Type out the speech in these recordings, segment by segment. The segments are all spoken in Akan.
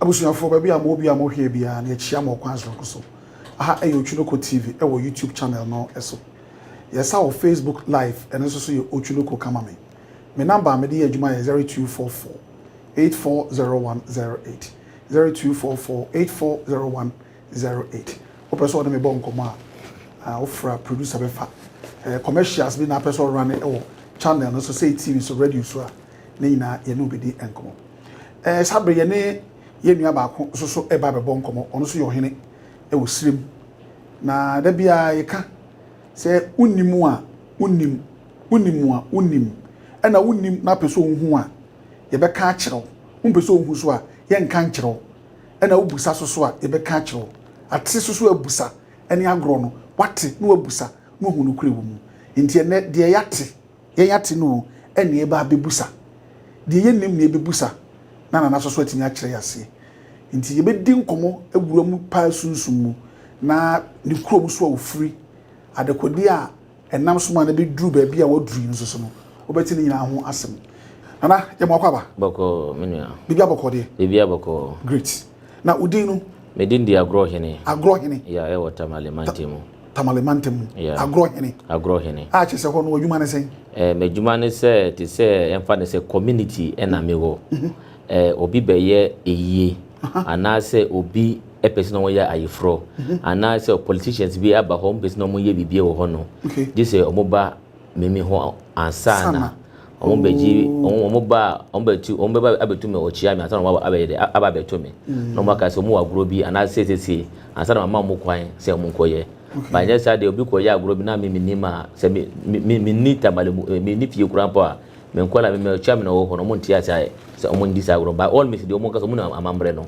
Abusuafoɔ, baabi a mo wɔ biara mo hwɛɛ biara no yɛ kyia mo ɔkwan soronko so. Aha yɛ Otwunoko TV wɔ YouTube channel no so. Yɛ sa wɔ Facebook live ɛno nso so yɛ Otwunoko ka ma me. Me number a me de yɛ adwuma yɛ zero two four four eight four zero one zero eight, zero two four four eight four zero one zero eight. Wo pɛ sɛ ɔne me bɔ nkɔmɔ a ah wo fra producer bɛ fa eh commercials bi na apɛ sɛ ɔrane ɛwɔ channel no so sɛ TV so radio so a ne nyinaa yɛ ne wo bɛ di nkɔmɔ. Ɛɛ, saa bere yɛne yɛn nua baako nso so reba abɛbɔ nkɔmmɔ. Ɔno nso yɛ ɔhene wɔ Sirem. Na da biara yɛka sɛ wonnim a wonnim, wonnim a wonnim. Ɛna wonnim na wopɛ sɛ wohu a, yɛbɛka akyerɛ wo. Wompɛ sɛ wohu so a, yɛnka nkyerɛ wo. Ɛna wobisa so so a, yɛbɛka akyerɛ wo. Ate so so abusa ne agorɔ no, woate na woabusa na woahu nokorɛ wɔ mu. Enti ɛnnɛ, deɛ yɛate, Yɛn ate no o, ɛnneɛ yɛba abɛbusa. Deɛ yɛnnim na yɛbɛbusa na Nana Soso atumi akyerɛ yɛn aseɛ. Nti yɛbɛdi nkɔmmɔ awura mu paa sunsum mu na ne kurom nso a ɔfiri, adekodeɛ a ɛnam so maa no bɛduru baabi a waduru yi nso so no, wobɛte ne nyinaa ho asɛm. Nana, yɛ mmoa kɔ aba? Bɔkɔɔ, me nua. Biribiara bɔkɔɔ deɛ? Biribiara bɔkɔɔ. Great. Na wo din no? Me din de Agorɔ Hene. Agorɔ Hene. Yeah, ɛwɔ Tamale mantam mu. Tamale mantam mu. Yeah. Agorɔ hene. Agorɔ hene. A kyerɛ sɛ hɔ no adwuma ne sɛn? Eh, m'adwuma ne sɛ te sɛ ɛmfa ne sɛ community ɛna me wɔ. Mhm. Eh, obi bɛyɛ eyie anaasɛ obi ɛpɛ sɛ na wɔyɛ ayeforɔ mhm. anaasɛ politicians bi aba hɔ ɔmo pɛ sɛ na wɔyɛ biribi wɔ hɔ no. Okay. Gye sɛ ɔmo ba mimi hɔ ansa na. Wɔn bɛgye, wɔn wɔn ba a wɔn bɛtu, wɔn bɛba abɛtu me ɔkyia me ansa na wɔn aba abɛyɛ dɛ aba abɛto me. Na wɔn aka sɛ wɔn wɔ agorɔ bi anaa siesie ansa na mama wɔn kwan sɛ wɔn nkɔyɛ. Ba nyɛ saa deɛ obi kɔyɛ agorɔ bi na me me nim a sɛ me me me me nni tamale mu me nni fie kura mpo a me nkɔla me me ɔkyia me na wɔwɔ hɔ no wɔn nte ase ayɛ sɛ wɔn ndi saa agorɔ by all means deɛ wɔn nka sɛ wɔn nim amammerɛ no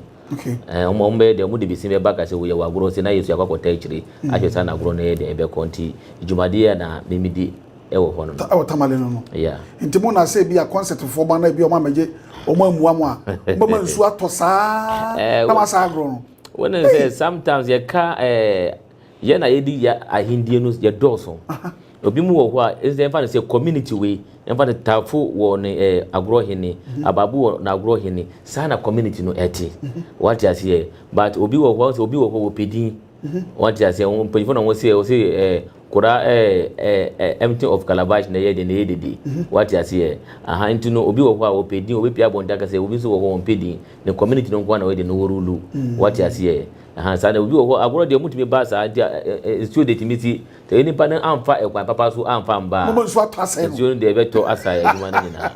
ɛɛ wɔn wɔn bɛyɛ deɛ wɔn de besi bɛba aka sɛ wɔyɛ wɔ agorɔ sɛ na yɛ so yɛ akɔ akɔta akyire ahwɛ saa na agorɔ no yɛ deɛ ɛbɛkɔ nti dwumadie a na me me di. ɛwɔ hɔ no no. Ɛwɔ tamale no no. Yeah. Nti mo na sɛ bi a concert foɔ ba na bi a ɔmo amɛgye ɔmo amua mo a ɔmo ma nsu atɔ saa eh, na ma saa agorɔ no. Wɔn na sɛ sometimes yɛ ka ɛɛ eh, yɛ na yɛ di yɛ ahendie no yɛ dɔɔso. Obi mu wɔ hɔ a ɛsɛ ɛnfa ne sɛ community wei ɛnfa ne taafo wɔ ne ɛɛ eh, agorɔ hene mhm. abaabo wɔ na agorɔ hene saa na community no ɛte. Mhm. Wɔate aseɛ but obi wɔ hɔ sɛ obi wɔ hɔ wɔ pedin. Wate aseɛ, wɔn mpanyinfoɔ na wɔn sɛ wɔn sɛ ɛɛ kora ɛɛ ɛɛ empty of calabash na ɛyɛ deɛ na ɛyɛ dede. Wate aseɛ, aha nti no obi wɔ hɔ a ɔpɛ din ɔbɛpie abɔnten aka sɛ obi nso wɔ hɔ wɔn mpɛ din ne community no nko ara na wɔyɛ deɛ na wɔrulu. Wate aseɛ, aha saa na obi wɔ hɔ agorɔ deɛ wɔn ntumi ba saa nti a nsuo deɛ tumi si Sɛ onipa no amfa ɛkwan papa so amfa amba a, nsuo no deɛ ɛbɛtɔ asae adwuma no nyinaa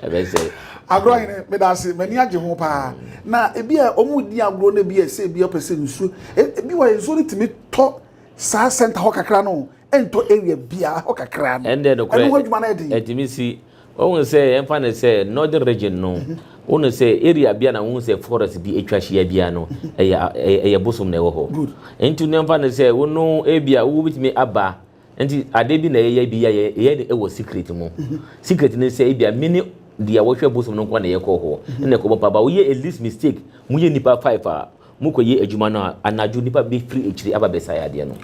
ɛbɛsɛe. Agorɔ hene meda ase m'ani agye ho paa na ebi a wɔn di agorɔ no ebi a ɛsɛ ebi ɔpɛ sɛ nsuo ebi wɔ nsuo no tumi tɔ saa center hɔ kakra no ɛntɔ area biara hɔ kakra no ɛno ho adwuma no ɛden. Wohu sɛ yɛmfa no sɛ northern region no, wohu sɛ area bia na wohu sɛ forest bi atwa hyia bia no, ɛyɛ ɛyɛ bosom na ɛwɔ hɔ. Nti no yɛmfa no sɛ wo no ebia wobɛtumi aba nti adeɛ bi na yɛyɛ bi yɛ yɛyɛ no ɛwɔ secret mu. Secret no sɛ ebia mini deɛ wɔhwɛ bosom no nkoa na yɛkɔ hɔ na ɛkɔbɔ mpa ba woyɛ a least mistake moyɛ nnipa five a mokɔyɛ adwuma no a anadwo nnipa bɛfiri akyiri aba bɛsae adeɛ no.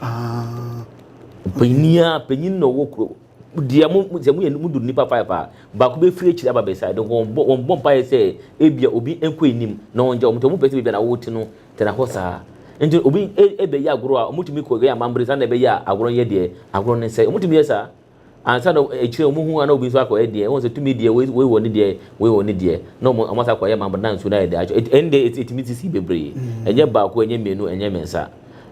Panyin a panyin na ɔwɔ kuro. Deɛ mo, sɛ moyɛ, modu nnipa five a, baako bɛfiri akyiri aba beasae de wɔn bɔ, wɔn bɔ mpaeɛ sɛ ebia obi nkɔ anim na wɔn gya wɔn, nti wɔn pɛ sɛ baabi a na wɔte no tena hɔ saa. Nti obi ɛbɛyɛ agorɔ a, wɔn tumi kɔ yɛ amambere saa na ɛbɛyɛ a agorɔ no yɛ deɛ, agorɔ no nsɛe. Wɔn tumi yɛ saa, ansa na akyire wɔn hu a na obi nso akɔ yɛ deɛ, wɔn sɛ tumi deɛ, wei wɔ ne deɛ, wei wɔ ne deɛ, na wɔn wɔn asa kɔ yɛ amambere na nsuo no ayɛ deɛ atwa, ɛne deɛ ɛtumi sisi bebree, ɛnyɛ baako, ɛnyɛ mmienu, ɛnyɛ mmiɛnsa,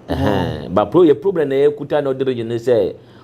ɛhɛn, but pro yɛ problem na yɛkuta na ɔde regye no sɛ.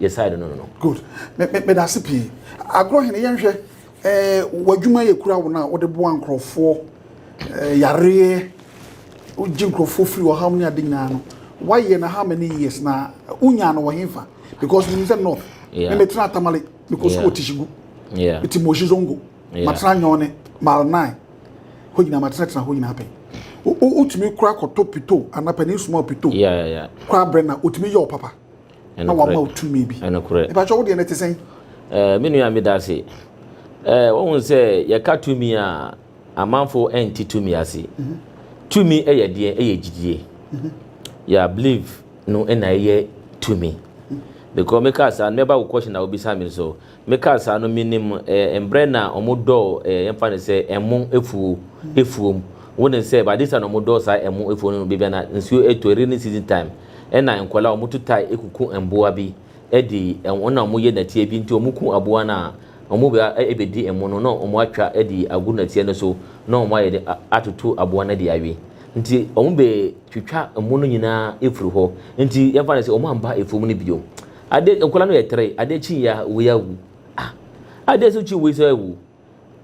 yɛ side no no no. good me me meda ase pii agorɔ hene yɛnhwɛ ɛɛ eh, w'adwuma yɛ kura wo no a wode boa nkurɔfoɔ ɛɛ eh, yareɛ wogye nkurɔfoɔ firi wɔ ham ne ade nyinaa no woayɛ no how many years na wonya no wɔ hefa because menim sɛ north me metena atamale mekɔ sukuu wɔ tihyigu ɛti mɔhyi zongo matena nyɔne mal 9 hɔ nyinaa matenatena hɔ nyinaa pɛn wotumi kora kɔtɔ pito anaa panin suma pito kora berɛ na wotumi yɛ wo papa na wama wo tumi bi. Ɛpakyɛ wo deɛ no te sɛn? Eh, me nua meda ase. Eh, wohu sɛ yɛka tumi a amanfo ɛnte tumi ase. Mhm. Tumi ɛyɛ deɛ ɛyɛ gyidie. Mhm. Yɛ believe no ɛna ɛyɛ tumi. Mhm. Because meka saa no mɛba wo question a wobisa me so. Mekaa saa no menim eh, mbrɛ na ɔmo dɔɔ eh, yɛmfa no sɛ ɛmo efuo, efuom. Wonim sɛ by this time na ɔmo dɔɔ saa ɛmo efuo no no, bebia na nsuo etɔ, rainy season time, ɛna nkɔlaa ɔmo tu tae ekuku mboa bi ɛde, ɛna ɔmo yɛ nɛteɛ bi, nti ɔmo ku aboa no a, ɔmo ba ɛbedi ɛmo no na ɔmo atwa ɛde agu nɛteɛ no so na ɔmo ayɛ dɛ atoto aboa no ɛde awe. Nti ɔmo bɛ twitwa ɛmo no nyinaa efiri hɔ, nti yɛmfa no sɛ ɔmo amba efuom no biom. Ade nkwadaa no yɛ tere ade kyi yɛ wei awu ah ade nso kyi wei nso awu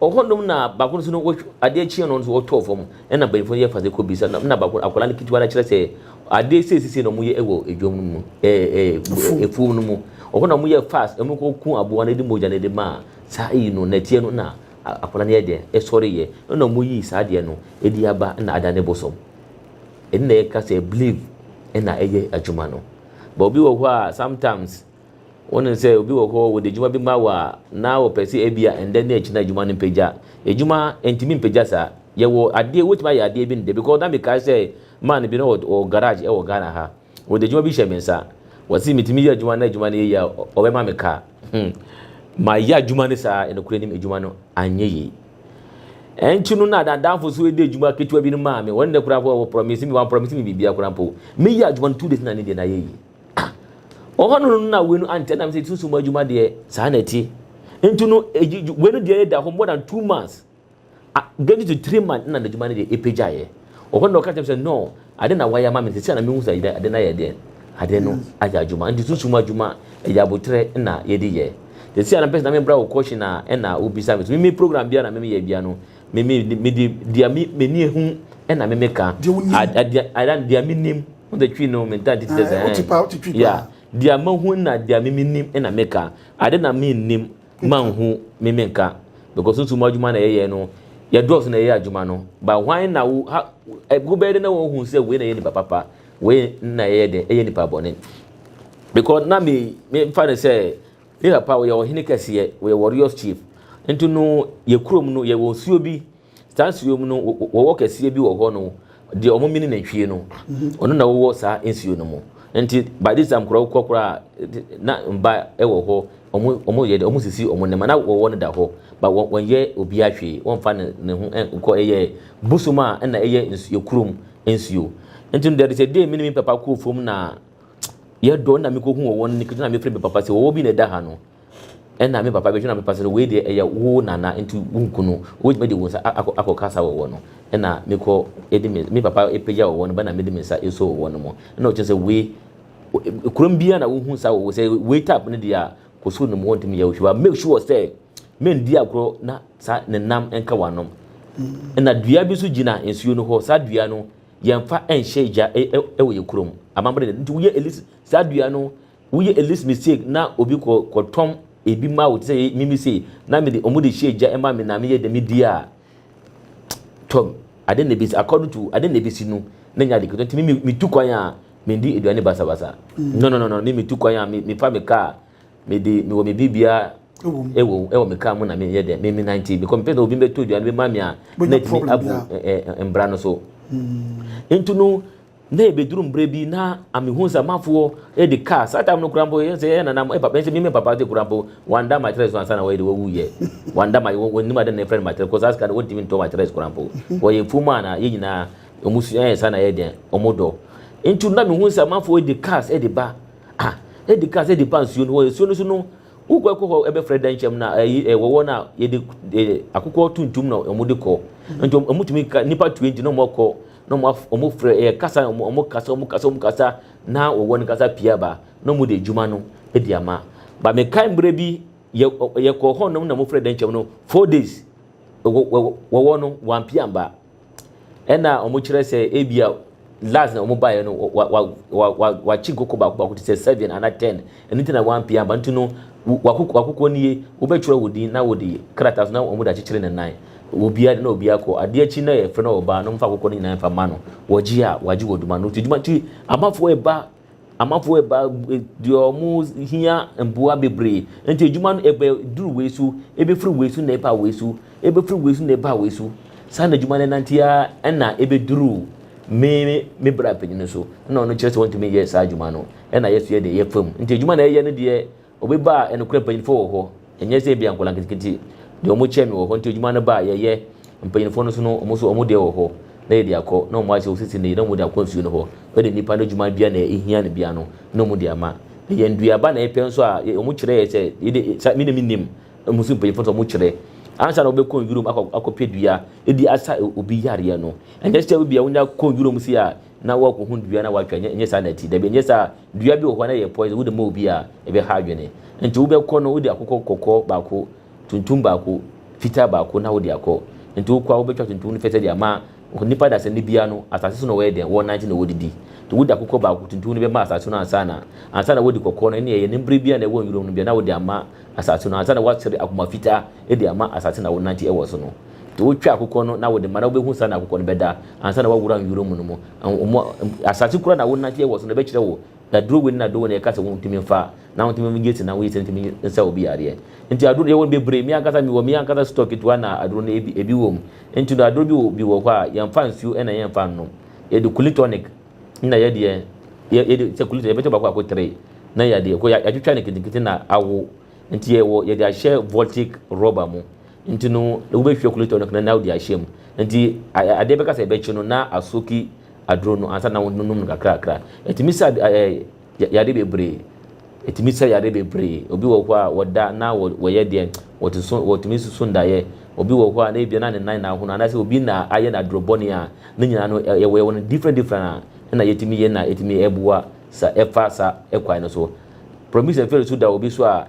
ɔhɔ nom na baako nso no wɔtw ade kyi no nso wɔtɔ fam ɛna bɛnfo yɛ fa sɛ kɔ bisa na na baako akwadaa no ketewa no kyerɛ sɛ ade sɛ sisi na wɔn yɛ ɛwɔ edwom no mu ɛɛ ɛɛ efuom no mu ɔhɔ na wɔn yɛ fast wɔn kɔ kun aboa no de mogya no de maa saa eyi no na tie no na akwadaa no yɛ deɛ ɛsɔre yɛ ɛna wɔn yi saa deɛ no edi aba na ada ne bosom ɛna ɛka sɛ believe ɛna ɛyɛ adwuma no. But obi wɔ hɔ a sometimes wonim sɛ obi wɔ hɔ wɔde adwuma bi ma wɔ a na wɔpɛ sɛ ebia ɛndɛ ne akyina adwuma no mpagya adwuma ntumi mpagya saa yɛwɔ adeɛ wotumi ayɛ adeɛ bi ndɛ because na mekae sɛ man bi na wɔ garage ɛwɔ Ghana ha wɔde adwuma bi hyɛ me nsa wɔsi metumi yɛ adwuma na adwuma no yɛ yie a ɔbɛma me kaa hmm mayɛ adwuma no saa nokorɛ nim adwuma no anyɛ yie Ɛno nti no na adamfo so redi adwuma ketewa bi no maa me. Wɔn nnɛ koraa po wɔ promise me, wɔn promise me biribiara koraa mpo. Meyi adwuma no two days na ne deɛ na ayɛ yie. Ah, ɔhɔ no no na wei no ankyɛ nam sɛ sunsum adwuma deɛ saa na ɛte. Nti no wei no deɛ da hɔ more than two months. Ah, getting to three months na n'adwuma no deɛ ɛpagyaeɛ. Ɔhɔ no na ɔka kyerɛ me sɛ no, Ade na wayɛ ama me sesei na mehu sɛ ade no ayɛ deɛn? Ade no ayɛ adwuma. Nti sunsum adwuma ɛyɛ aboterɛ na yɛde yɛ. Sesei a na mepɛ sɛ na me bra wo question a ɛna wo bisa me so. Me me program biara na me yɛ biara no me me me de deɛ me m'ani ahu ɛna me me ka. Deɛ wo nim. Ad adeɛ adan deɛ me nim. Wo de twi no me ntaa nti te sɛ ɛɛ. Wo te paa wo te twi paa. Yeah deɛ mahu na deɛ me me nim ɛna me ka. Ade na me nnim. ma nhu me me nka because nso mo adwuma na yɛyɛ no yɛdɔɔso na yɛyɛ adwuma no ba hwan na wo ha wobɛyɛ dɛ na wɔhu sɛ wei na yɛ nipa papa wei na yɛyɛ dɛ ɛyɛ nipa bɔne because na me me mfa no sɛ me papa wɔyɛ ɔhene kɛseɛ wɔyɛ warriors chief nti no yɛ kurom no yɛwɔ nsuo bi Saa nsuo mu no, wɔwɔ kɛseɛ bi wɔ hɔ no, deɛ wɔn mini nantwie no, ɔno na wɔwɔ saa nsuo no mu. Nti by this time koraa wokɔ koraa na mba wɔ hɔ, wɔn wɔn yɛ dɛ, wɔn sisi wɔn nneɛma na wɔwɔ no da hɔ, ba wɔn wɔnyɛ obiara hwee, wɔnfa ne ne ho nkɔ ɛyɛ bosom a ɛna ɛyɛ nsuo kurom nsuo. Nti no there is a day me ne me papa kɔɔ fam na yɛdɔ na mekɔhu wɔn ne kɛtɛ na mefrɛ me papa sɛ wɔwɔ bi na ɛda ha no. Ɛna me papa bɛhwɛ na mepa sɛ wei deɛ ɛyɛ wo nana nti wo nku no wobɛtumi de wo nsa akɔ akɔ kasa wɔ wɔ no ɛna me kɔ ɛdi me me papa ɛpagya wɔ wɔ no bɛna me de me nsa ɛsɔ wɔ wɔ no mo ɛna ɔkyɛ sɛ wei kurom bia na wo hu sa wɔ wɔ sɛ wei tap no deɛ kɔ soro nom wɔntumi yɛ wohwɛ ba make sure sɛ men di agorɔ na sa ne nam ɛnka wanom ɛna dua bi so gyina nsuo no hɔ sa dua no yɛnfa ɛnhyɛ gya ɛwɔ yɛ kurom amammerɛ nti woyɛ ɛlis sa dua no Woyɛ elist mistake na obi kɔ kɔ tɔn ebi ma wo te sɛ mimi sei na me de ɔmo de hyɛ gya ɛma me na me yɛ dɛ me di a tɔm ade na ebesi according to ade na ebesi no na nya ade ketewa ti mimi me tu kwan a me di aduane basa basa no no no no mimi tu kwan a me me fa me kaa me de me wɔ me bi bia ɛwɔ ɛwɔ me kaa mu na me yɛ dɛ me me nante because me pɛ sɛ obi bɛ to aduane bɛ ma me a na ti mi abu mbra no so nti no Na ebeduru mbrɛ bi na amehu sɛ amafoɔ de car, saa time no koraa mpo yɛn sɛ yɛyɛ nana mo, ɛpapa yɛn sɛ me me papa de koraa mpo wanda mattress no ansa na wɔyɛ de wɔwu yɛ, wanda ma wɔ wɔnim ade na yɛfrɛ no mattress kɔ saa sika no wɔntumi ntɔ mattress koraa mpo, wɔyɛ fuom a na yɛn nyinaa wɔn su ɛyɛ saa na yɛ deɛ wɔn dɔ, nti na mehu sɛ amafoɔ de cars de ba, ah de cars de ba nsuo no hɔ, nsuo no so no wokɔ ɛkɔ hɔ ɛbɛfrɛ dankyɛm na ɛyi ɛwɔ hɔ na yɛde akokɔ tuntum na wɔn de kɔ, nti wɔn wɔn tumi ka nipa tue nti na wɔn kɔ. na wɔn af wɔn frɛ ɛyɛ kasa wɔn wɔn kasa wɔn kasa wɔn kasa na wɔwɔ ne kasa pii aba na wɔn de adwuma no de ama ba mekae mmerɛ bi yɛ yɛkɔ hɔ nom na wɔn frɛ dɛnkyɛm no four days wɔ wɔwɔ no wɔn apia mba ɛna wɔn kyerɛ sɛ ebi a last na wɔn baeɛ no wa wa wa wa wakyi nkoko baako baako te sɛ seven ana ten. Ɛno nti na wampue amba. Nti no, w'akok w'akokoɔ nie, wobɛtwerɛ wo din na wode krataa so na wɔn de akyekyere ne nan. Obiara de na obiara kɔ. Adeɛ akyi na yɛfrɛ no ɔbaa no mfa akokoɔ no nyinaa mfa ma no. Wɔgye a, wɔagye wɔ adwuma no. Nti adwuma nti amanfoɔ reba, amanfoɔ reba deɛ wɔn hia mmoa bebree. Nti adwuma no ɛbɛ duru wei so, ɛbɛfiri wei so na ɛba wei so, ɛbɛfiri wei so na ɛba wei so. Saa na adwuma no ɛnante ara ɛna ɛbɛduru me me bra panin no so. Ɛna ɔno kyerɛ sɛ ɔntumi nyɛ saa adwuma no. na yɛsoɛ deɛ ɛyɛ fam. Nti adwuma na yɛyɛ no deɛ obi ba a nokorɛ mpanyinfoɔ wɔ hɔ. Ɛnyɛ sɛ ebia nkwadaa nketenkete deɛ wɔn kyɛn me wɔ hɔ nti adwuma no ba a yɛyɛ. Mpanyinfoɔ no nso no wɔn nso wɔn deɛ wɔ hɔ na yɛde akɔ na wɔn ahyɛ osisi no yie na wɔn de akɔ nsuo no hɔ. Wei deɛ nipa no adwuma biara na ehia no biara no na wɔn de ama. Na yɛn nnuaba na yɛpɛ nso a wɔn kyerɛ yɛ sɛ yɛde saa me na me nim na wɔn nso mpanyinfoɔ nso wɔn kyerɛ. Ansa na wɔbɛ kɔ nwura mu akɔ akɔpɛ dua de asa obi yareɛ no ɛnyɛ sɛ ebia wonya kɔ nwura mu sei a na woakohu dua na woatwa, ɛnyɛ saa na ɛte. Dabi, ɛnyɛ saa. Dua bi wɔ hɔ a na ɛyɛ poison, wode ma obi a, ɛbɛha adwene. Enti wobɛkɔ no, wode akokɔ kɔkɔɔ baako, tuntum baako, fitaa baako na wode akɔ. Enti wokɔ a, wobɛtwa tuntum no fɛfɛ de ama nnipa dasani no biara no, asase so na wɔyɛ dɛn? Wɔnante na wɔdidi. Enti wode akokɔ baako, tuntum no bɛma asase no ansa na, ansa na woadi kɔkɔɔ no, ɛnneɛ ɛyɛ ne bere biara na ɛwɔ nwiram no biara, na wode ama asase no, ansa na woasere akoma fitaa de ama asase na wonante wɔ so no. Nti wotwa akokɔ no na wode ma na wobɛhu saa na akokɔ no bɛda ansa na woawura nwura mu no mu. Asase koro a na wonanteɛ wɔ so no ɛbɛkyerɛ wo aduro wei ne aduro wei na yɛka sɛ wontumi mfa na wontumi mgye sɛ na woyɛ sɛ ntumi nsa obi yareɛ. Nti aduro no yɛwɔ no bebree, me ankasa mewɔ me ankasa store ketewa na aduro no ebi ebi wɔ mu. Nti no aduro bi wɔ bi wɔ hɔ a yɛmfa nsuo ɛna yɛmfa nnom. Yɛde Kulin tonic na yɛ deɛ yɛ yɛde sɛ Kulin tonic yɛbɛkyɛ baako baako three na yɛadeɛ kɔ yɛatwitwa no nketenkete na awo. Nti yɛwɔ yɛde ahyɛ voltic rubber mu. Nti no wobɛhwie kulator no kena na wode ahyɛm. Nti adeɛ bɛka sɛ ɛbɛkye no na asoki aduro no ansa na wonom no kakrakra. Ɛtumi sa yadeɛ bebree. Ɛtumi sa yadeɛ bebree. Obi wɔ hɔ a wɔda na wɔyɛ deɛ wɔte so wɔtumi nsusu ndaeɛ. Obi wɔ hɔ a na ebia na ne nan na ahono anaasɛ obi na ayɛ no aduro bɔne a ne nyinaa no yɛwɔ yɛwɔ no different different a ɛna yɛtumi yɛ na ɛtumi ɛboa sa ɛfa sa ɛkwan no so. Promise ɛfɛre so da obi so a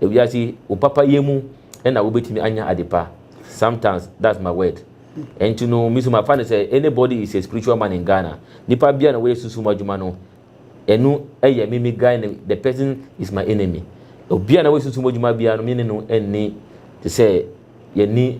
Ewiase wo papa yɛ mu na wo bɛtumi anya ade pa sometimes that's my word ɛnti no me so ma fa no sɛ any body is a spiritual man in Ghana nipa bia na wɔyɛ sunsum adwuma no ɛnu ɛyɛ me me guy no the person is my enemy obia na wɔyɛ sunsum adwuma bia no me ne no ɛnni te sɛ yɛne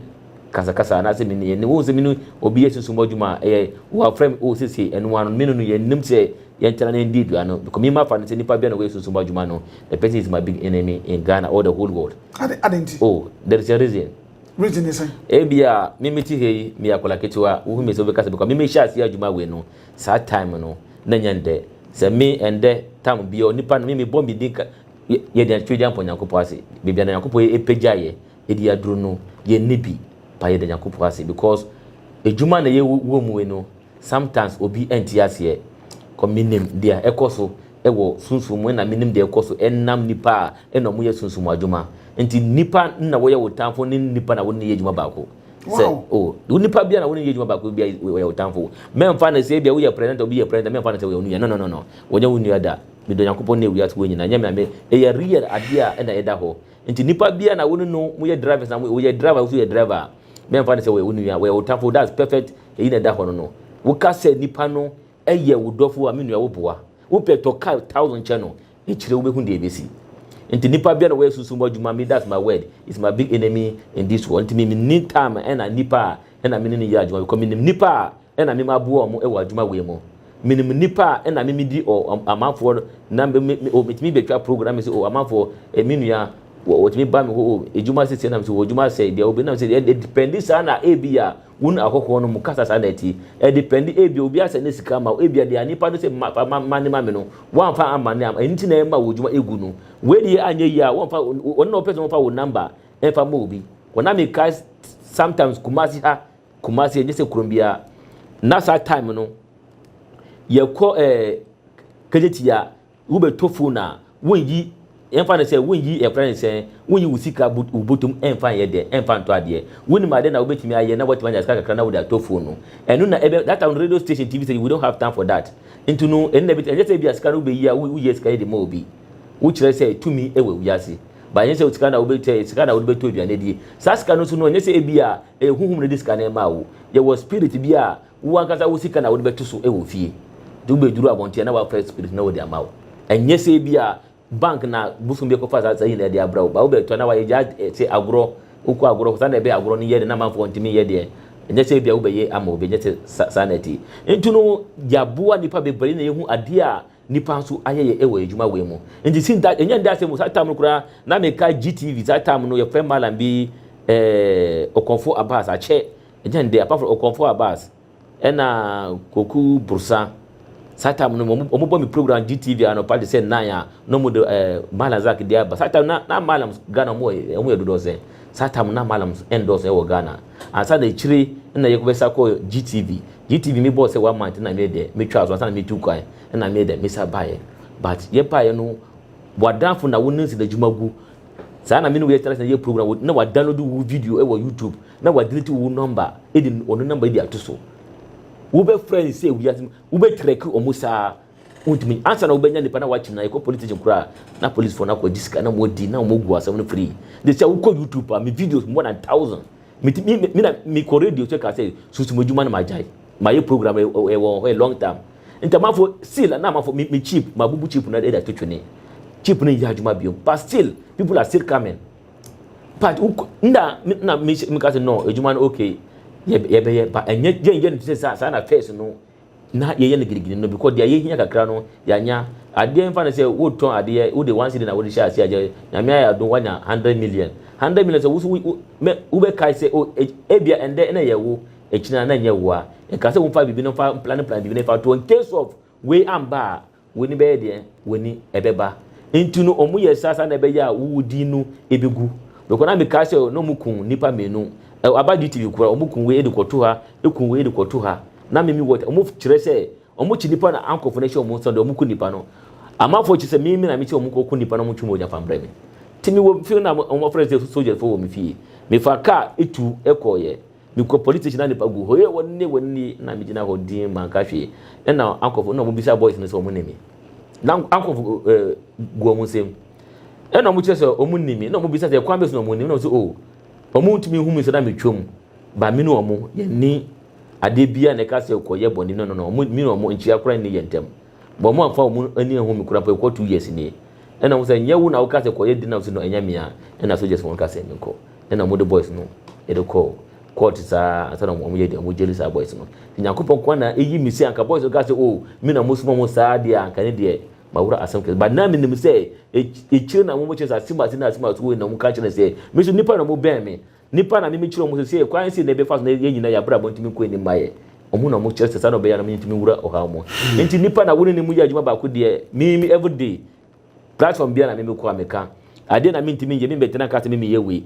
kasakasa anaasɛ me ne yɛne wohu sɛ me ne obi yɛ sunsum adwuma a ɛyɛ wɔafrɛ me wɔ sese ɛno ano me no no yɛnnim sɛ yɛntena na yɛndi aduane no because mema fa no sɛ nipa bia na wɔyɛ sunsum adwuma no the person is my big enemy in Ghana or the whole world ade ade nti oh there is a reason reason ne sɛn ebia me me ti hei me akɔla ketewa wohu me sɛ wobɛka sɛ because me mehyɛ aseɛ adwuma wei no saa time no na nyɛ ndɛ sɛ me ɛndɛ tam bia onipa no me mebɔ me din yɛde atwitwe de ampɔ nyankopɔn ase bibia na nyankopɔn ɛpɛgya yɛ edi aduro no yɛ nni bi pa yɛda nyankopɔn ase because adwuma na yɛ wɔ mu yi no sometimes obi nti aseɛ kɔ menim deɛ ɛkɔ so ɛwɔ sunsum mu ɛna menim deɛ ɛkɔ so ɛnam nipa a ɛna ɔmo yɛ sunsum adwuma nti nipa na wɔyɛ wo tamfo ne nipa na wɔne yɛ adwuma baako sɛ wow. o oh, wo nipa bia na wo ne yɛ adwuma baako bia wɔyɛ wo tamfo mɛmfa no sɛ bia woyɛ president obi yɛ president mɛmfa no sɛ wɔyɛ wo nua no no no no wɔnyɛ wo nua da medɔ nyankopɔn ne wiase wɔ nyina nyɛ me na me ɛyɛ real adeɛ a ɛna ɛda hɔ Nti nipa biaa na wone no mo yɛ drivers na mo yɛ driver woso yɛ driver a me nfa ne sɛ wɔyɛ wo nua wɔyɛ wo tafo that's perfect eyi na ɛda hɔ no no wo ka sɛ nipa no yɛ wo dɔfo a me nua wo boa wo pɛ tɔ car thousand kyɛ no ekyire wo bɛ hu deɛ ebesi nti nipa biaa na wɔyɛ sunsum mu adwuma me that's my word is my big enemy in this world nti me me ni time ɛna nipa a ɛna me ne no yɛ adwuma because me nim nipa a na me maboa wɔn wɔ adwuma wei mu. Menim nnipa a na me medi o amanfoɔ no na me me me o metumi betwa program na me sɛ o amanfoɔ eh, me nua wɔ wɔtumi ba me hɔ o edwuma sisi na me sɛ wɔ edwuma sɛ bia obi na me sɛ ɛ dependi saa na ebi a wɔn ahɔhoɔ no mu kasa saa na ɛte ɛ dependi ebi obi asɛ ne sika ma ebi a deɛ nipa no sɛ ma fa ma ma ne ma me no wɔnfa ama ne ama ɛnti na ɛma wɔ edwuma egu no wei deɛ anyɛ yie a wɔnfa wɔn na wɔpɛ sɛ wɔnfa wɔ number ɛnfa ma obi wɔn na me ka sometimes kumasi ha Kumasi ɛnyɛ sɛ kurom biara na saa time no yɛkɔ ɛɛ eh, kejeti a wobɛtɔ phone a wonyi ɛmfa no sɛ wonyi ɛfrɛ no sɛ wonyi wo sika wo botom ɛmfa nyɛ dɛ ɛmfa ntɔ adeɛ wonim adeɛ na wobɛtumi ayɛ na woatumi anya sika kakra na wode atɔ phone no ɛno na ɛbɛ that time no radio station tv station we don't have time for that nti no ɛno na ɛbɛtumi ɛnyɛ sɛ bi a sika no wobɛyi a woyɛ sika yɛ de ma obi wokyerɛ sɛ tumi ɛwɔ wiase ba ɛnyɛ sɛ sika na wobɛtɛ sika na wode bɛtɔ aduane adie saa sika no nso no ɛnyɛ sɛ ebi a Ɛyɛ honhom na ɛde sika no rema wo. Yɛwɔ spirit bi a wo ankasa wo sika na wode bɛto so wɔ fie. Nti wobɛduru abɔnten a na wɔafrɛ spirit na wɔde ama wo. Ɛnyɛ sɛ ebia bank na bosom bi akɔfa saa saa nyinaa de abrɛ wo. But wobɛtɔ na wɔayɛ gyaa te agorɔ. Wokɔ agorɔ saa na ɛbɛyɛ agorɔ no yɛ de na amanfoɔ ntumi nyɛ deɛ. Ɛnyɛ sɛ ebia wobɛyɛ ama obi. Ɛnyɛ sɛ saa na ɛte. Nti no yɛaboa nnipa bebree na yɛhu adeɛ a Nnipa nso ayɛyɛ wɔ adwuma wei mu. Nti since that, ɛnyɛ ndɛ asɛm o, saa time no koraa, na mekae GTV, saa time no yɛfrɛ Mallam bi eh, Okonfo Abbas, akyɛ, ɛnyɛ ndɛ, apart from Okonfo Abbas, ɛna Koku Brosa, saa time no wɔn wɔn bɔ me program GTV anɔpa te sɛ nnan a, na wɔn de eh, Mallam Zack de aba, saa time no na, na Mallams Ghana wɔn wɔ wɔn yɛ dodɔɔsɛn, saa time no na Mallams ɛndɔɔso ɛwɔ Ghana. Ansa na akyire na Yeko bɛsa kɔɔ GTV. GTV me bɔɔ sɛ one month na me deɛ metwaa so ansa na metu kwan na me deɛ mesa baeɛ. But yɛ baeɛ no w'adamfo na wo ne nsi n'adwuma gu. Saa na me ne wo yɛ tena ase na yɛ program na wa download wo video wɔ YouTube na wa delete wo number de ɔno number de ato so. Wobɛfrɛ nsi a wiase mu wobɛtrɛki wɔn saa Wontumi, ansa na wobɛnya nipa na wakyim na yɛkɔ police station koraa na police fo no akɔgye sika na wɔadi na wɔgu asɛm no free. De sɛ wokɔ YouTube a me videos more than thousand. Me ti me me na mekɔ radio so ka sɛ sunsum adwuma no magyae. Mayɛ program ɛwɔ wɔ hɔ a long time. Ntamafo seal na amafo me me chip mabubu chip no ɛde ato twene. Chip no nyɛ adwuma biom but still people are still coming. But wokɔ nda na me meka sɛ no adwuma no okay yɛbɛyɛ ba ɛnyɛ yɛnyɛ no te sɛ saa saa na first no na yɛyɛ no girigiri no because deɛ yɛhia kakra no yɛanya adeɛ mfa no sɛ wotɔn adeɛ wode one cedi na wode hyɛ aseɛ agyɛ nyame ayɛ adom wanya hundred million hundred million sɛ woso wobɛkae sɛ o ebia ɛndɛ ɛna ɛyɛ wo ɛkyina na ɛnyɛ wo a ɛka sɛ womfa biribi no mfa plan plan biribi no fa to in case of wei amba a W'ani bɛyɛ deɛn? W'ani ɛbɛba. Nti no ɔmo yɛ saa saa na ɛbɛyɛ a wo wo din no ebegu. Bɛkɔ na me kaa sɛ na ɔmo kun nnipa mmienu. Ɛ aba DTV koraa ɔmo kun wei de kɔ to ha, ekun wei de kɔ to ha. Na me me wɔ ɔmo kyerɛ sɛ ɔmo kyi nnipa na ankɔfo no hyɛ ɔmo nso deɛ ɔmo ku nnipa no. Amanfoɔ kyi sɛ me me na me sɛ ɔmo nkɔ ku nnipa na ɔmo ntwe mogya fa mbrɛ me. Nti me wɔ fie na ɔmo afrɛ sɛ sogyafo wɔ me fie. Me fa kaa etu ɛkɔɔyɛ. Mekɔ police station na nipa gu hɔ yɛ wɔn nie wɔn nie na megyina hɔ din manka hwee ɛna ankɔfo na wɔn bisa boys no sɛ wɔn ne me na ankɔfo ɛɛ eh, gu wɔn nsam ɛna wɔn kyerɛ sɛ wɔn ne me na wɔn bisa sɛ kwan bɛsi na wɔn ne me na wɔn sɛ o oh, wɔn ntumi hu mi sɛ na metwam ba me ne wɔn yɛn ni adeɛ bia na ɛka sɛ kɔ yɛ bɔnne no no no wɔn mi ne wɔn nkyia koraa nni yɛn ntam. But ɔmo anfa ɔmo ani anhu me koraa mpo ɛkɔ two years nie. Ɛna ɔmo sɛ nyɛ wo na wo kaa sɛ kɔ yɛ dna ɔmo se no ɛnyɛ me a ɛna soldiers no ka sɛ me nkɔ ɛna ɔmo de boys no de kɔɔ court saa ansa na ɔmo yɛ dna ɔmo jail saa boys no nti Nyankopɔn nkoa na eyi me se anka boys no kaa sɛ oh me na mo soma ɔmo saa deɛ a anka ne deɛ mawura asɛm kɛse but na me nim sɛ ekyire na ɔmo kyerɛ sɛ asim ase na asim ase wei na ɔmo ka kyerɛ sɛ me nso nipa na ɔmo bɛn me Nnipa na mimi kyerɛ wɔn sɛ sɛ kwan sei na yɛbɛfa so na yɛn nyinaa yɛn abrabɔ ntumi nkɔ anim ma yɛn. Wɔn na wɔkyerɛ sɛ saa na ɔbɛyɛ a na mentumi nwura ɔhaw mu. Enti nnipa na wɔne ne mu yɛ adwuma baako deɛ mimi everyday. Platform biara na mimi kɔ a meka. Adeɛ na mentumi nyɛ, membɛtena nka sɛ mimi yɛ wei.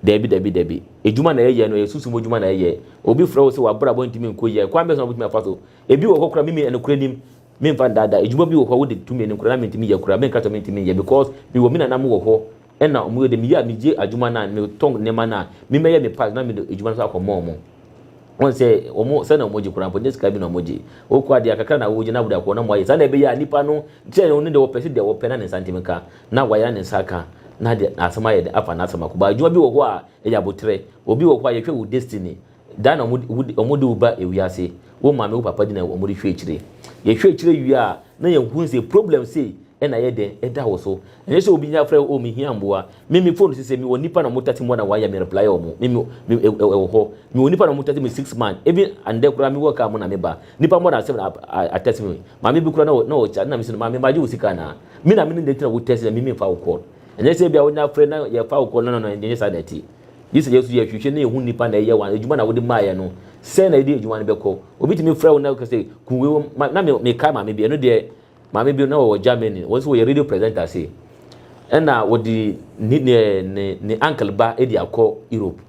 Dabi, dabi, dabi. Adwuma na yɛyɛ no, ɛyɛ sunsum mu adwuma na yɛyɛ. Obi frɛ wo sɛ w'abrabɔ ntumi nkɔ yie a, kwan bɛn so na wobɛtumi afa so? Ebi wɔ hɔ koraa mimi nokorɛ nim, memfa nnaadaa, adwuma bi wɔ hɔ a wode tumi anim koraa na mentumi nyɛ koraa, menka sɛ mentumi nyɛ because mewɔ me nananom wɔ hɔ, Ɛna ɔmo yɛ dɛ, meyɛ a megye adwuma no a, metɔn nneɛma no a, me mɛyɛ me part na mede adwuma no nso akɔma ɔmo. Wɔn sɛ ɔmo, sɛnea ɔmo gye koraa mpo, nyɛ sika bi na ɔmo gye. Ɔkɔ adeɛ a, kakra na ɔgye na ɔde akɔ na moayɛ. Saa na ɛbɛyɛ a nipa no, sɛ ɔno deɛ ɔpɛ sɛ deɛ ɔpɛ na ne nsa ntem nka, na wayɛ na ne nsa aka, na deɛ asɛm ayɛ dɛ, afa n'asɛm akɔ. But adwuma bi wɔ hɔ a, ɛyɛ aboterɛ. Obi wɔ hɔ a, yɛhwɛ wo destiny, Da na wɔde wo ba wiase, wo maame wo papa di na wɔde hwɛ akyire. Yɛhwɛ akyire wie a na yɛhu sɛ problem sei na ayɛ dɛn ɛda wo so. Ɛnyɛ sɛ obi afrɛ wo oh me hia mmoa, me me phone sesɛ me wɔ nnipa na wɔn tate mmoa na wɔayɛ me reply wɔn, me me ɛwɔ hɔ, me wɔ nnipa na wɔn tate me six months, even ɛndɛ koraa me wɔ car mu na me ba, nnipa more than seven a text me, maame bi koraa na ɔkyɛ ade na me se no maame magye wo sika anaa? Me na me ne nti na wo text na me me mfa wo call. Ɛnyɛ sɛ ebia wo ne afrɛ na yɛfa wo call no no no ɛnyɛ saa na ɛte. Gye sɛ yɛn nso yɛhwehwɛ na yehu nnipa na ɛyɛ wɔn adwuma na wode maeɛ no. Sɛn na yɛde adwuma no bɛkɔ? Obi tumi frɛ wo na ɔka sɛ, Ku wei wom. Ma, na me, mekae maame bi, ɛno deɛ, maame bi na ɔwɔ Germany, wɔn nso wɔyɛ radio presenter ase. Ɛna wɔde ne, ne, ne, ne uncle ba de akɔ Europe.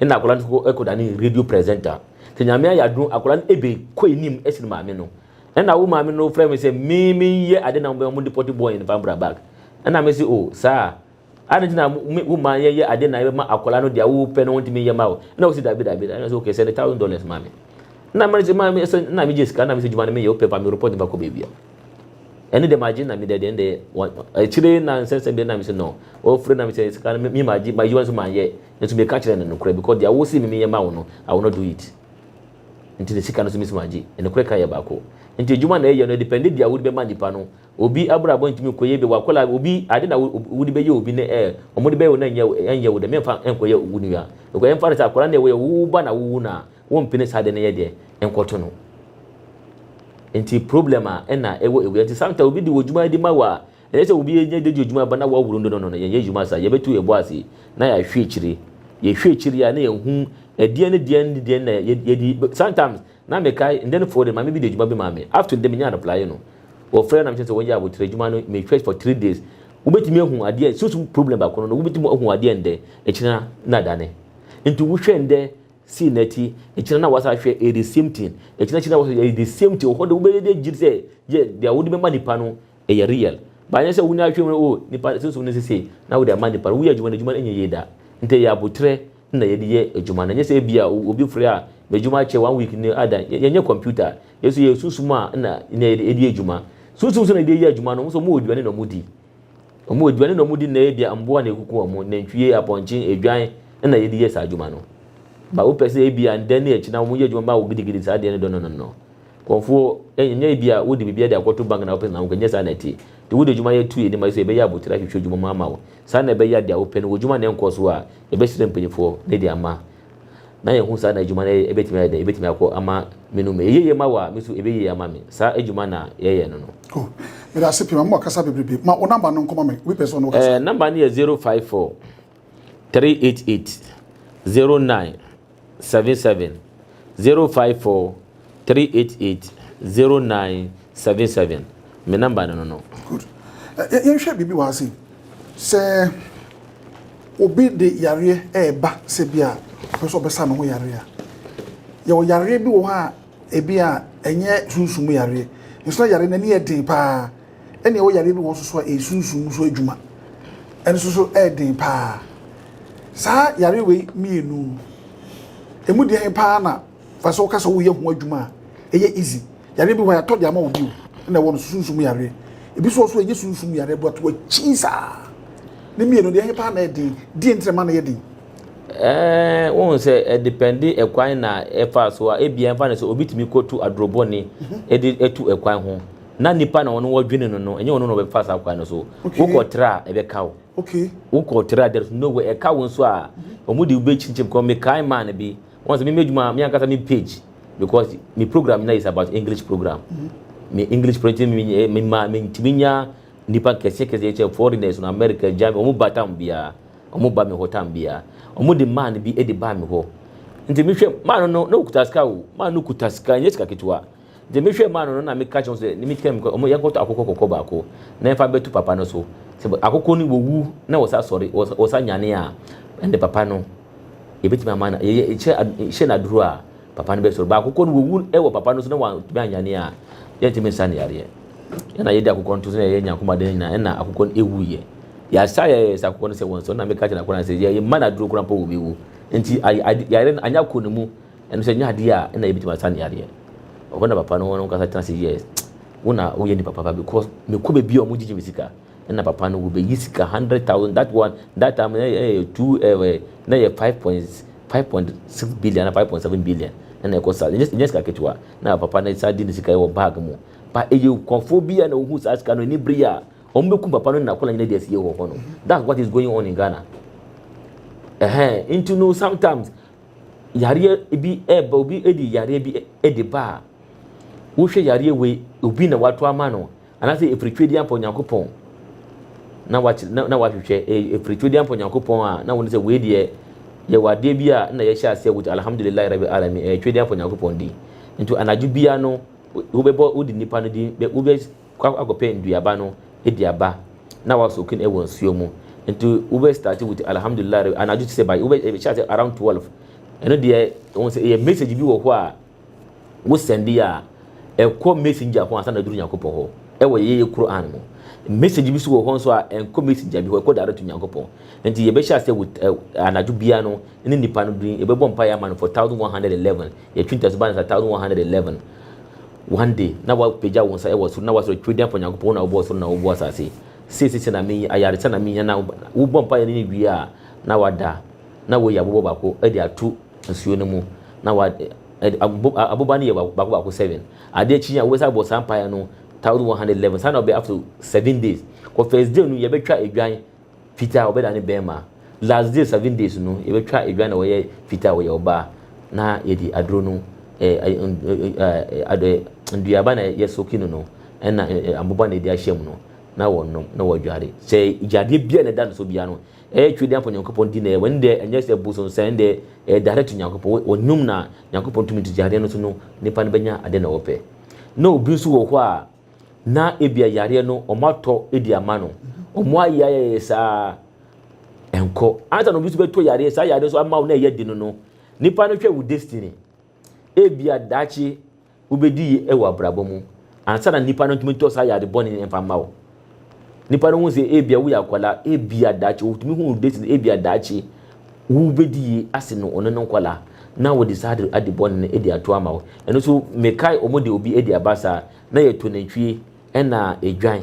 Ɛna akwadaa no kɔ, kɔda ne radio presenter. Sɛ nyame ayɛ adom, akwadaa no ebe, kɔ anim sen maame no. Ɛna wo maame no frɛ me sɛ, me, menyɛ ade na wɔn depɔte bɔɔ yɛn, fa mbra back. Ɛna mese, oh, saa a. Adɛn nti na wo mma yɛyɛ ade na ɛbɛma akwadaa no deɛ wopɛ no wontumi nyɛ ma wo? Ɛna wosi dabi dabi dabi. Ɛna sɛ okay sɛnde thousand dollars ma me. Na mma sɛ ma sɛ na megye sika na mesɛ dwuma no meyɛ wopɛ pa me report nipa kɔ baabi a. Ɛne deɛ magye na me deɛ deɛ ɛnde akyire na nsɛ sɛ bi na mesɛ no. Wɔfrɛ na mesɛ sika no me magye ma adwuma nso manyɛ. Nso meka kyerɛ no nokorɛ because deɛ wosi me meyɛ ma wo no I will not do it. Nti ne sika no nso mesi magye. Nokorɛ ka yɛ baako. Nti adwuma na ɛyɛ no ɛdepɛnde deɛ wode bɛma nipa no. Obi abrabɔ ntumi nkɔ yie, bi a wakɔla a obi ade na wode bɛyɛ obi ne ɛɛ wɔn de bɛyɛ wo na ɛnyɛ ɛnyɛ wo dɛ mɛnfa nkɔyɛ wo nua because ɛnfa no sɛ akɔla no ɛwɔ wo ba na wowu no a wɔmpene saa ade no yɛ deɛ nkɔto no nti problem a ɛna ɛwɔ ewia nti sometimes obi de wɔ dwuma de ma wɔ a ɛyɛ sɛ obi yɛ de di dwuma ba na wɔworo no no no no yɛnyɛ dwuma saa yɛbɛtu yɛbɔ ase na yɛahwɛ akyire yɛhwɛ akyire a na yɛhu ɛdeɛn ne deɛn ne deɛn na yɛdi sometimes Na mekae, ndɛn fɔɔ dɛ maame bi de edwuma bi maa me, up to ndɛ minyaa replye no, wɔfrɛɛ na mekyerɛ sɛ wɔyɛ aboterɛ edwuma no, me hwɛ for three days, wobetumi ahu adeɛ, sunsum problem baako no no wobetumi ahu adeɛ ndɛ, ekyena na adane, nti wo hwɛ ndɛ see nɛti, ekyena na wasa ahwɛ ɛyɛ the same thing, ekyena akyi na wasa ɛyɛ the same thing, ɔhɔ de wobɛyɛ de agyi sɛ yɛ deɛ wode bɛma nipa no ɛyɛ real, but anyɛ sɛ wo na ahwɛ mu oh nipa sunsum no sesei na wode ama nipa no, woyɛ adwuma no adwuma no nyɛ yie da, nti ɛyɛ aboterɛ na yɛde yɛ adwuma no ɛnyɛ sɛ ebia obi frɛ a m'adwuma akyɛ one week ni adan yɛnyɛ computer a yɛ nso yɛyɛ sunsum a na nea yɛde edi adwuma sunsum nso na yɛde yɛ adwuma no wɔn nso wɔn wɔ aduane na wɔn di wɔn wɔ aduane na wɔn di na ebia mmoa na ekuku wɔn nantwie apɔnkye adwan na yɛde yɛ saa adwuma no ba wopɛ sɛ ebia ndɛ ne ɛkyina wɔn yɛ adwuma ba wɔ gidigidi saa deɛ no dɔ no no no. Nkurɔfoɔ nyɛ ebi a wode biribi de akɔto bank na wopɛ sɛ wokɔ, nyɛ saa na ɛteɛ. Nti wode adwuma yɛ tu anim a ɛsɛ sɛ yɛbɛyɛ abotire ahwehwɛ adwuma mu ama wo. Saa na ɛbɛyɛ a deɛ wopɛ no, w'adwuma no nkɔɔ so a, yɛbɛsrɛ mpaninfoɔ na yɛde ama na yɛahu saa na adwuma no bɛtumi ayɛ dɛn, ɛbɛtumi akɔ ama me no mu. Ɛyɛ yie ma wo a, me nso ɛbɛyɛ yie ama me. Saa adwuma na yɛyɛ no no. Oh, meda ase pii, ma mo kasa bebrebe. Ma wo number no nkɔma me, obi pɛ sɛ ɔne wo kasa. Eh, number no yɛ zero five four three eight eight zero nine seven seven zero five four three eight eight zero nine seven seven me number no no no. good ɛ yɛnhwɛ biribi wɔ ha sei sɛ obi de yareɛ ɛɛba sɛ bi a ɔpɛ sɛ ɔbɛsa ne ho yareɛ a yɛwɔ yareɛ bi wɔ hɔ a ebi a ɛnyɛ sunsum yareɛ nso na yareɛ no ani yɛ den paa. Ɛne ɛwɔ yareɛ bi wɔ nso so a ɛyɛ sunsum mu so adwuma ɛnso so ɛyɛ den paa saa yareɛ wei mmienu ɛmu deɛn paa na fa sɛ woka sɛ woyɛ ho adwuma a ɛyɛ easy yareɛ bi hɔ yɛatɔ de ama obi o ɛna ɛwɔ no so sunsum yareɛ ebi so ɔso ɛnyɛ sunsum yareɛ but wɔakyi saa ne mmienu deɛ ɛhe paa na ɛden deɛ ntina ma no yɛ den Eh, wohu sɛ ɛdepɛnde eh, ɛkwan na ɛfa so a ebia ɛmfa ne sɛ obi tumi kɔtu adorobɔne mhm. de atu ɛkwan ho na nipa na ɔno wɔdwene no no ɛnyɛ ɔno na ɔbɛfa saa kwan no so wokɔ tra a ɛbɛka wo wokɔ tra there is no way ɛka wo nso a wɔn de wobɛkyinkyim kɔ mekae maa no bi wɔn sɛ meme adwuma me ankasa me page because me program na is about english program me english program me me ma me ntumi nya nipa kɛseɛ kɛseɛ kyɛ foreigners no america germany wɔn ba tam biara wɔn ba me hɔ tam biara wɔn de maa no bi de baa me hɔ nti mehwɛ maa no no na okuta sika o maa no kuta sika nyɛ sika ketewa Dze me hwɛɛ mu ano no na mekã kyerɛɛ hɔn dɛ, Ne me tsia me kɔ, ɔmɔ yɛnkɔtɔ akokɔ kɔkɔɔ baako na yɛmfa mbɛto papa no so. Sɛ akokɔ no wowu na wɔsan sɔre, wɔsan nyanee a, nna papa no, yebetumi ama no, yɛyɛ hyɛ ad hyɛ no aduru a, papa no bɛsɔre. But akokɔ no wowu wɔ papa no so na wɔanntumi annyane a, yɛnntumi nsa no yareɛ. Nna yɛde akokɔ no to so na yɛyɛ Nyankoma ade no nyina, nna akokɔ no ewuiɛ. Yɛasa a yɛayɛ sɛ akokɔ no sɛ wɔnsɔre no na mekã kyerɛɛ no akokɔ no ara sɛ, Yɛmma no aduru koraa mpo a obewu. Ntsi ay ad yareɛ no annyɛ akɔ no mu. Ɛno sɛ ɛnyɛ adeɛ a na yɛbɛtumi asa no yɛ adeɛ. Ɛhɔ na papa no wɔn ankasa tena ase yɛɛ wo na woyɛ nipa papa because mekɔ baabi a wɔgyegye me sika na papa no wɔbɛyi sika hundred thousand that one that time na ɛyɛ two ɛɛ na ɛyɛ five point five point six billion na five point seven billion na ɛkɔ saa ɛnyɛ ɛnyɛ sika ketewa na papa no saa di ne sika wɔ bag mu ba ɛyɛ nkɔfoɔ bi a na wɔhu saa sika no ani bere a wɔn bɛkum papa no na akɔla nyina di asie wɔ hɔ no that's what is going on in Ghana ɛhɛn nti no sometimes yareɛ bi ɛba obi ɛdi yareɛ bi ɛdi ba a wohwɛ yareɛ wei obi na wato ama no anaasɛ ɛfiri twɛdi ampa onyankopɔn na wakyerɛ na na wahwehwɛ ɛfiri twɛdi ampa onyankopɔn a na wɔn sɛ wei deɛ yɛwɔ adeɛ bi a na yɛhyɛ aseɛ wɔ alhamdulilayi rabi alami ɛyɛ twɛdi ampa onyankopɔn di nti anadwo bia no wobɛbɔ wodi nipa no din wobɛ kɔ akɔpɛ nduaba no di aba na wa soak in wɔ nsuo mu nti wo bɛ start with alhamdulillah rɛ anadwo te sɛ by wo bɛ hyɛ ase around 12 ɛno deɛ wɔn sɛ ɛyɛ message bi wɔ hɔ a wo send a ɛkɔ messenger ho ansa na duru nyankopɔn hɔ ɛwɔ yɛyɛ Quran mu message bi so wɔ hɔ nso a ɛnkɔ messenger bi hɔ ɛkɔ direct to nyankopɔn nti yɛbɛhyɛ ase with anadwo bia no ne nipa no din yɛbɛbɔ mpa yɛ ama no for 1111 yɛtwi ntaso ba no sa 1111 One day, na woapagya wo nsa wɔ soro na woasrɛ, Twerɛdin Afa Onyankopɔn, wo na wobɔɔ soro na wobɔɔ asase. Sei seesei na meyi, ayaresa na meyi, anaa wobɔ mpaeɛ no ne wie a, na woada, na woayi aboba baako de ato nsuo no mu, na wa, ɛ, abo, aboba no yɛ baako baako seven. Adeɛ akyi yi a wobɛsan abɔ saa mpaeɛ no thousand one hundred eleven, saa na ɔbɛyɛ after seven days. Wɔ first day no yɛbɛtwa adwan, Fitaa a wɔbɛda no bɛɛma. Last days seven days no yɛbɛtwa adwa na wɔyɛ fitaa a wɔyɛ ɔbaa na yɛde aduro no nduaba na yɛ soki no no ɛna aboba na yɛde ahyɛ mu no na wɔnom na wɔdware sɛ gyadeɛ bia na ɛda no so bia no ɛyɛ twɛ dɛmfo nyankopɔn di na wɔn deɛ ɛnyɛ sɛ bosom sɛ ɛn deɛ ɛdare to nyankopɔn wɔnum na nyankopɔn tumi nti gyadeɛ no so no nipa no bɛnya ade na wɔpɛ na obi nso wɔ hɔ a na ebia yareɛ no wɔn atɔ de ama no wɔn ayɛ ayɛyɛ saa nkɔ ansa na obi nso bɛtɔ yareɛ saa yareɛ nso ama wo na ɛyɛ de no no nipa no hwɛ wo destiny ebia daakye wobɛdi yi wɔ abrabɔ mu ansa na nipa no ntumi tɔ saa yare bɔne mfa mma wo Nnipa no hu sɛ ebia woyɛ akwadaa, ebia daakye wotumi hu date no, ebia daakye wobɛdi yie ase no ɔno ne nkwadaa na wɔde saa ade ade bɔne no adi ato ama wo. Ɛno nso mekae wɔn de obi adi aba saa na yɛto nantwie ɛna edwan.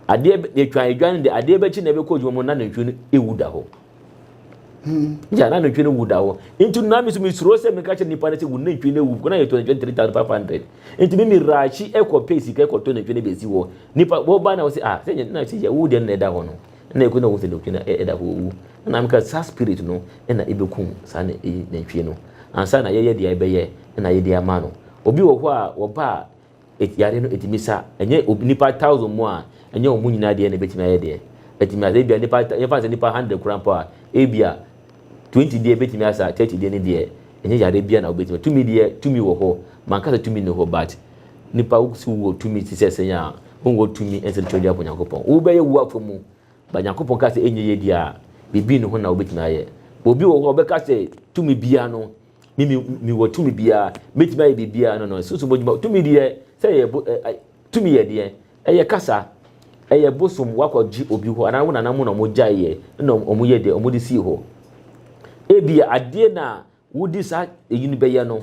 Adeɛ yɛtwa edwan no de adeɛ bɛkye na ɛbɛkɔ adwuma mu na nantwie no ewu da hɔ. Hmm. ya na nantwie no wu da hɔ nti na mi so mi suro sɛ mi ka kyerɛ nipa ne sɛ wu nantwie no wu na yɛ tɔ nantwie three thousand five hundred nti mi mi raakyi ɛkɔ pay sika ɛkɔ tɔ nantwie no bɛ si hɔ nipa wɔba na wɔsi ah sɛ nyɛ na sɛ yɛ wu deɛ na ɛda hɔ no na ɛkɔ na wɔn sɛ nantwie no ɛda hɔ owu na mi ka saa spirit no ɛna ɛbɛkum saa na ɛyi nantwie no ansa na yɛyɛ deɛ ɛbɛyɛ ɛna yɛde ama no obi wɔ hɔ a wɔba a Et yare no etumi sa. Ɛnyɛ obi nipa thousand mu a, ɛnyɛ wɔn nyinaa deɛ na ebetumi ayɛ deɛ. Etumi asa ebia nipa ta yɛnfa no sɛ nipa hundred koraa mpo a, ebia twenty deɛ ebetumi asa, thirty deɛ ne deɛ ɛnyɛ yare biara na wobetumi. Tumi deɛ tumi wɔ hɔ. Manka sɛ tumi nni hɔ but nipa wo sɛ wowɔ tumi te sɛ sɛn a, wonwɔ tumi ɛnsɛ tumi de apo Nyankopɔn. Wobɛyɛ wo afa mu but Nyankopɔn ka sɛ ɛnyɛ yie deɛ a, biribi nni ho na wobetumi ayɛ. Obi wɔ hɔ a ɔbɛka sɛ tumi biara no, Me me me wɔ tumi biara, mɛtumi ayɛ biribiara no no. Susu bɔdwuma tumi deɛ sɛ ɛyɛ bo ɛ tumi yɛ deɛ ɛyɛ kasa ɛyɛ bosom wakɔ gye obi hɔ anaa wɔn nana mu na wɔn gya yɛ na wɔn yɛ deɛ wɔn de sii hɔ. Ebi adeɛ na wodi saa eyi no bɛyɛ no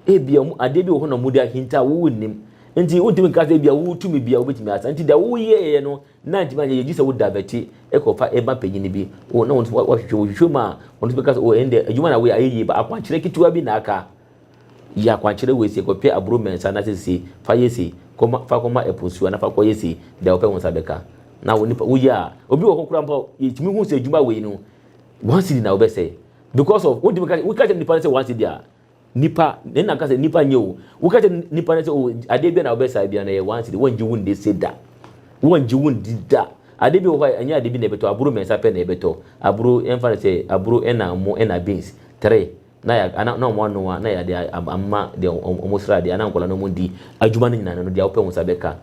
ebi adeɛ bi wɔ hɔ na wɔn de ahinta wɔn nim nti wɔntumi nka sɛ ebi a wɔtumi bi a wɔbɛtumi asa nti deɛ wɔyɛ yɛ no Na ntumi anyɛ yie gye sɛ wo diverte kɔ fa ma panyin bi o na ɔno nso wahwehwɛ mu hwehwɛ mu a ɔno nso bɛka sɛ o ɛnde adwuma na woyɛ ayɛ yie ba akwankyerɛ ketewa bi na aka yɛ akwankyerɛ wei sei kɔtwɛ aburo mmiɛnsa na sɛ sei fa yɛ sei kɔma fa kɔma ɛpo nsuo na fa kɔyɛ sei deɛ wopɛ wo nsa bɛka na wo nipa woyɛ a obi wɔ hɔ koraa mpo yɛtumi hu sɛ adwuma wei no one cedi na wobɛsɛe because of wontumi ka woka kyerɛ nipa no sɛ one cedi a Nipa, ne na ka sɛ nipa nyɛ o. Woka kyɛ nipa no sɛ o adeɛ bia na wobɛsae bia na ɛyɛ one city. Wɔngye wo nde se da. Wɔngye wo ndi da. Adeɛ bi wɔ hɔ a ɛnyɛ adeɛ bi na ɛbɛtɔ, aburo mmiɛnsa pɛ na ɛbɛtɔ. Aburo, yɛmfa no sɛ aburo ɛna ɛmo ɛna beans, three. Na yɛ ana na wɔn anoa na yɛde ama deɛ wɔn sra adeɛ ana nkwadaa no wɔn di. Adwuma no nyinaa no deɛ wopɛ wo nsa bɛka.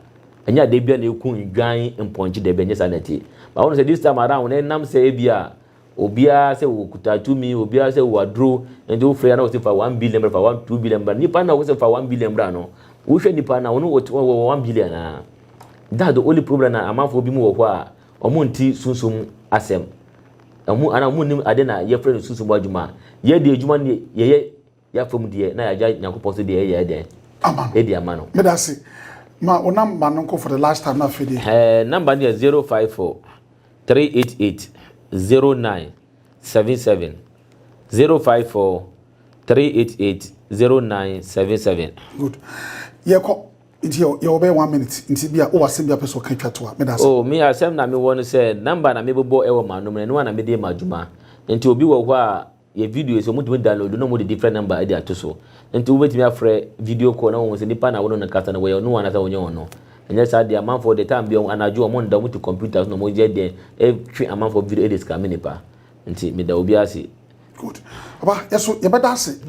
Ɛnyɛ adeɛ bia na ɛku nnwan mpɔnkye dabi ɛnyɛ saa na ɛteɛ. But wohu sɛ this time around no ɛnam sɛ ebia. Obiara sɛ ɔkuta tumi, obiara sɛ ɔwɔ aduro, nti wofrɛ a na wɔsi fa one billion bra, fa one two billion bra. Nipa na wɔsi fa one billion bra no, wohwɛ nipa na ɔno ɔwɔ one billion a. That's the only problem na amanfoɔ bi mu wɔ hɔ a wɔnte sunsum asɛm. Wɔn anaa wɔn nnim ade na yɛfrɛ no sunsum adwuma. Yɛn deɛ adwuma no deɛ yɛyɛ Yɛn afɔm deɛ na yɛagya Nyankopɔn so deɛ yɛyɛ ɛdɛn? Ama no. Ɛdi ama no. Meda se. Ma wo number no nko for the last time na afei deɛ. Ɛɛ number no yɛ zero five four three eight eight zero nine seven seven zero five four three eight eight zero nine seven seven. Good. Yɛkɔ nti yɛ yɛ ɔbɛyɛ one minute nti bi a wɔ asɛm bi a pɛ sɛ ɔka twa to a meda se. Oh mi asɛm na mi wɔ no sɛ number na mi bobɔ ɛwɔ maa nom na ɛno a na mi de ma adwuma nti obi wɔ hɔ a. yɛ video sɛ wɔtumi download na wɔde different number de ato so nti wobɛtumi afrɛ video call na wɔhu sɛ nipa na wɔne no kasa no wɔyɛ ɔno anasɛ wɔnyɛ ɔno ɛnyɛ saa deɛ amanfoɔ deɛ time bi anadwo wɔn nda wɔn ti computer so na wɔn yɛ deɛ ɛtwe amanfoɔ video ɛde sika mi nipa nti meda obi ase. good aba yɛso yɛbɛda ase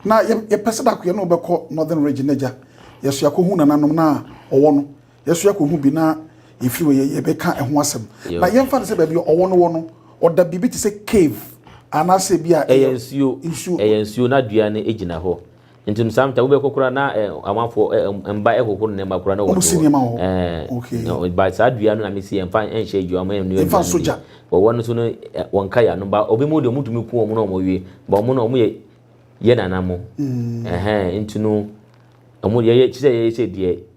na yɛpɛ sɛ dakoyɛ no wobɛkɔ northern region agya yɛso yɛakɔhu nananom no a ɔwɔ no Yɛso yɛkɔhu bi na yɛfiri hɔ yɛbɛka ɛho asɛm. Na yɛmfa no sɛ baabi a ɔwɔ no wɔ no, ɔda biribi te sɛ cave anaasɛ bi a ɛyɛ nsuo. nsuo. Ɛyɛ nsuo na dua no gyina hɔ. Nti no sometimes wobɛkɔ koraa na amanfoɔ mba ɛhohoro nneɛma koraa na wɔn de wɔ. Wɔsi nneɛma wɔ hɔ. Ɛɛ. Okay. But saa dua no na mesi yɛmfa nhyɛ adwuma mu. Yɛmfa nso gya. Wɔwɔ no so no wɔn nka yɛ ano. Ba obi mu deɛ wɔn tumi ku wɔn na wɔn wie. Ba wɔn no wɔn yɛ yɛ nana mo. Ɛhɛn nti no wɔn yɛyɛ kyerɛ yɛyɛ sɛ deɛ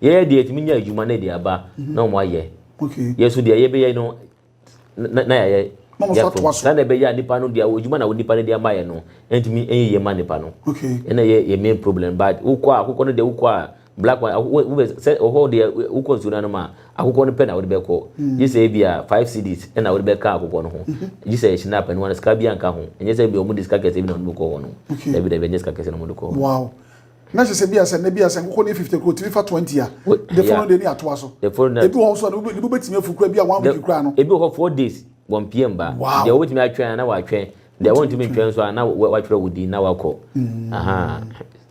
Yɛyɛ deɛ yɛtumi nya adwuma na ɛde aba na wɔn ayɛ. Yɛ nso deɛ yɛbɛyɛ no na yɛayɛ. Na wɔn nso atoa so. Sɛdeɛ ɛbɛyɛ a nipa no deɛ adwuma na nipa no de ama yɛ no ntumi nyɛ yie ma nipa no. Ɛna yɛ yɛ main problem but wokɔ a akokɔ no deɛ wokɔ a black one wobɛ sɛ ɔhɔ deɛ wokɔ nsuo no anom a akokɔ no pɛ na wode bɛkɔ gye sɛ ebi a five cedis ɛna wode bɛka akokɔ no ho gye sɛ ɛhyɛ n'apɛ no ano sika bi anka ho ɛnyɛ sɛ ebi a wɔn de sika kɛse bi na wɔn de kɔ hɔ no dabi dabi ɛnyɛ sika kɛse na wɔn de kɔ hɔ. Na ɛsɛ sɛ bi asɛ na bi asɛ nkokɔ ne fifty kura otumi fa twenty a. The following day ne atoa so. The following day. Ebi wɔ hɔ so ne bo betumi afu kura bi a one week kura no. Ebi wɔ hɔ four days wɔn pm ba. Wow. Deɛ wobɛtumi atwɛn na watwɛn. Deɛ wɔntumi ntwɛn nso a na watwerɛ wo din na wakɔ.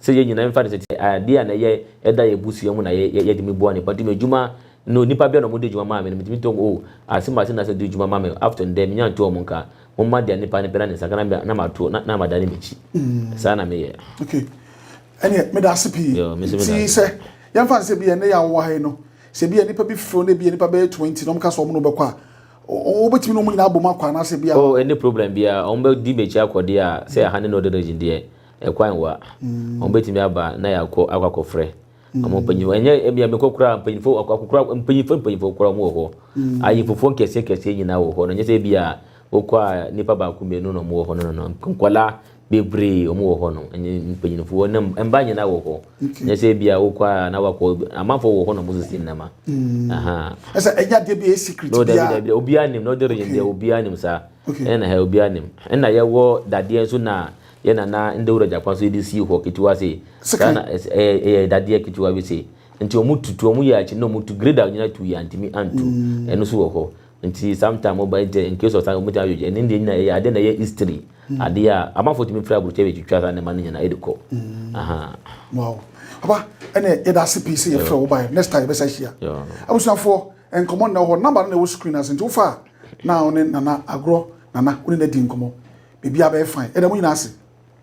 Sɛ yɛn nyinaa mfa no sɛ adeɛ a na yɛ ɛda yɛ busua mu na yɛde mi boa nipa nti mi adwuma no nipa bia na wɔn de adwuma maa mi no mi tumi tɔ mu o ase ma ase na sɛ de adwuma ma mi after ndɛ mi nya nto wɔn nka. Momma deɛ nipa no pɛ na ne nsa ka na na mato na na madane m'akyi. Saa na meyɛ. Okay. Ɛneɛ meda ase pii. Yo, me nso meda Nti ase. sɛ yɛmfa no sɛ bi a ɛnɛ yɛ a wowɔ ha yi no sɛ bi a nipa bi feel na bi a nipa bɛyɛ 20 na wɔka sɛ wɔn na wɔbɛkɔ a wo- wo- wobɛtumi ne wɔn nyinaa abom akɔ anaasɛ bi a Oh, ɛnni problem biara. Wɔn bɛdi m'akyi akɔ deɛ a, sɛ ɛha ne Northern Region deɛ, ɛkwan wɔ a, wɔbɛtumi aba na yɛakɔ akɔ akɔfrɛ. Ɔmo mpanyinfo ɛnyɛ ebi a mekɔ koraa mpanyinfo akokora mpanyinfo mpanyinfo koraa ɔmo wɔ hɔ. Mm. Ayinfofoɔ nkɛseɛ kɛseɛ nyinaa wɔ hɔ no nyɛ sɛ ebi a wokɔ a nipa baako mmienu na ɔmo wɔ hɔ no no no nkwadaa bebree ɔmo wɔ hɔ no ɛnyɛ mpanyinfoɔ ne mba nyinaa wɔ hɔ. Nyɛ sɛ ebi a wokɔ a na wakɔ amanfoɔ wɔ hɔ na ɔmo sisi nnɛma. Mm. Aha. Ɛsɛ ɛnyɛ adeɛ bi a ɛyɛ secret bi a. No dabi dabi obiara nim na ɔde region deɛ obiara nim saa. Ɛna ha obiara nim. Ɛna yɛwɔ dadeɛ nso na. yɛ na na Ndawura Gyakwa so de sii hɔ ketewa sei. Saa na ɛyɛ dadeɛ ketewa bi sei. Nti wɔn tutu, wɔn yɛ akyi na wɔn tu grade a wɔnyina tu yɛ antumi antu. Ɛno so wɔ hɔ. Nti sometime wɔn ba yi tɛ in case of time wɔn tumi atwitwa. Ɛne deɛ nyina ɛyɛ adeɛ na ɛyɛ history. Adeɛ a amanfoɔ tumi firi aburokyɛ bɛ twitwa saa nneɛma no nyina ɛde kɔ. Wow. Papa, ɛne yɛ da ase pii sɛ yɛ frɛ wo ba yɛ. Next time yɛ bɛ sa hyia. Abusuafoɔ, nkɔmɔ nna wɔ hɔ. Number no na ɛwɔ screen no ase nti wo fa a na wo ne Nana agorɔ Nana wo ne no adi nkɔmmɔ biribiara bɛyɛ fine yɛda mo nyinaa ase.